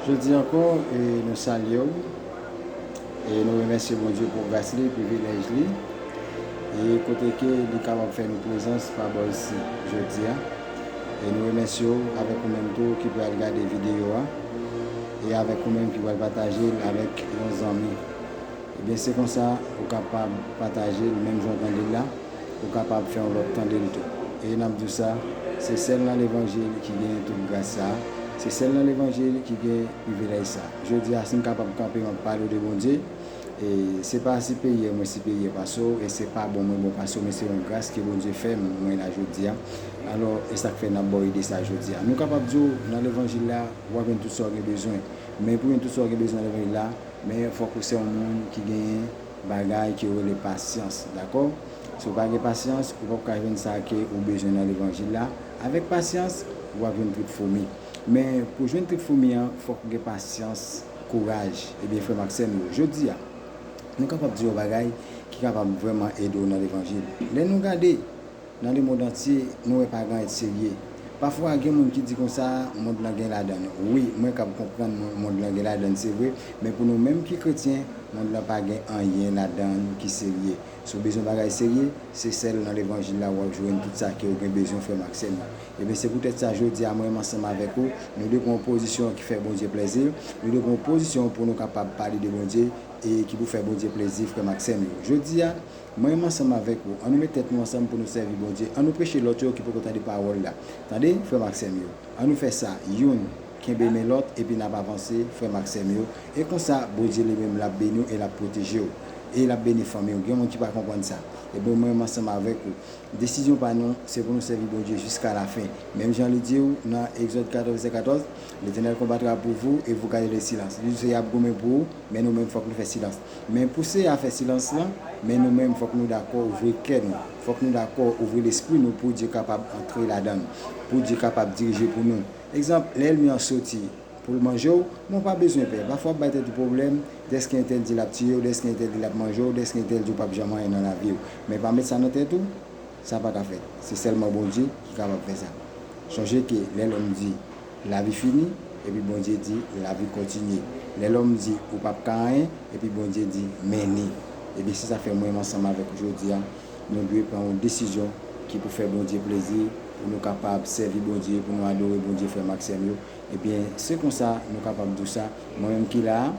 Jodi ankò nou salye w e nou remèsye Bondye pou gras li, privilèj li e kote ke li kapab fè nou prezans pa bò isi jodi a. E nou remèsye w avèk ou menm tou ki pral gade videyo a e avèk ou menm ki pral pataje l avèk yon zanmi. Ebyen se konsa ou kapab patajel menm jan w tandel la ou kapab fè yon lòt tandel tou e nap diw sa se sèl nan levanjil ki gen tout gras sa se sèl nan levanjil ki gen privilèj sa jodia sim kapab kanpe map palew de Bondye e se pa siperyè mwen siperyè pase w e se pa bon mwen bon pase w men se yon gras ke Bondye fèm mwen la jodia alò esak fè nap baw ide sa jodia nou kapab diw nan levanjil la wap jwenn tout sa w gen bezwen men pou jwenn tout sa w gen bezwen nan levanjil la Men fòk ou se yon moun ki genyen bagay ki yo rele pasyans dakò si ou pa gen pasyans ou pap ka jwenn sa ke ou bezwen nan levanjil la avèk pasyans ou pap jwenn trip foumi men pou jwenn trip foumi an fòk ou gen pasyans kouraj ebyen frèm ak sèm yo jodia nou kapab di yon bagay ki kapab vrèman ede w nan levanjil lè nou gade Nan le mond antye nou wè pa gran et serye pa fwa gen moun ki di konsa mond lan gen ladan l wi mwen kab konprann mond lan gen ladan l se vre men pou nou menm ki kretyen mond lan pa gen anyen ladan l ki serye si w bezwen bagay serye se sèl nan levanjil la wap jwenn tout sa kew gen bezwen frè m ak sè m yo ebyen se poutèt sa jodi a mwen ansanm avèk ou nou dwe pran yon pozisyon ki fè Bondye plèzi nou dwe pran yon pozisyon pou nou kapab pale de Bondye e ki pou fè Bondye plèzi frè m ak sè m yo jodi a Mwen menm ansanm avèk ou, an nou met tèt nou ansanm pou nou sèvi Bondye, an nou preche lòt yo ki poko tande pawòl la. Tande, frè m ak sè m yo, an nou fè sa, youn, kenbe men lòt, epi n ap avanse, frè m ak sè m yo, e konsa, Bondye li menm l ap beni w e l ap pwoteje w, e l ap beni fanmi w. Gen moun ki pa konprann sa? Ebyen, mwen menm ansanm avèk ou, desizyon pa nou, se pou nou sèvi Bondye jiska lafen. Menm jan li di w nan Egzòd 14, vèsè 14, Letènèl konbatra pou vou, e vou gade le silans. Li di w se y ap goumen pou ou, men nou menm fòk nou fè silans. Men pou se afè silans lan, men nou menm fòk nou dakò ouvri kè nou, fòk nou dakò ouvri lespri nou pou Dye kapab antre ladan l, pou Dye kapab dirije pou nou. Egzanp, lè èlmi an soti pou l manje w, men w pa bezwen pè. Pafwa w ap bay tèt ou pwoblèm, dèske entèl di l ap tiye w, dèske entèl di l ap manje w, dèske entèl di w pap janm anyen nan lavi w. Men pa met sa nan tèt ou. Sa pa ka fèt. Se sèlman Bondye ki kapab fè sa. Sonje ke lè lòm di, Lavi fini, epi Bondye di, Lavi kontinye. Lè lòm di, Ou pap ka anyen, epi Bondye di, Men ni. Ebyen se sa fè mwenm ansanm avèk ou jodi a, nou dwe pran yon desizyon ki pou fè Bondye plezi, pou nou kapab sèvi Bondye, pou nou adore Bondye frè m ak sè m yo. Ebyen se konsa nou kapab di w sa, mwenmenm ki la a,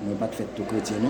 mwen pat fèt tou kretyen non.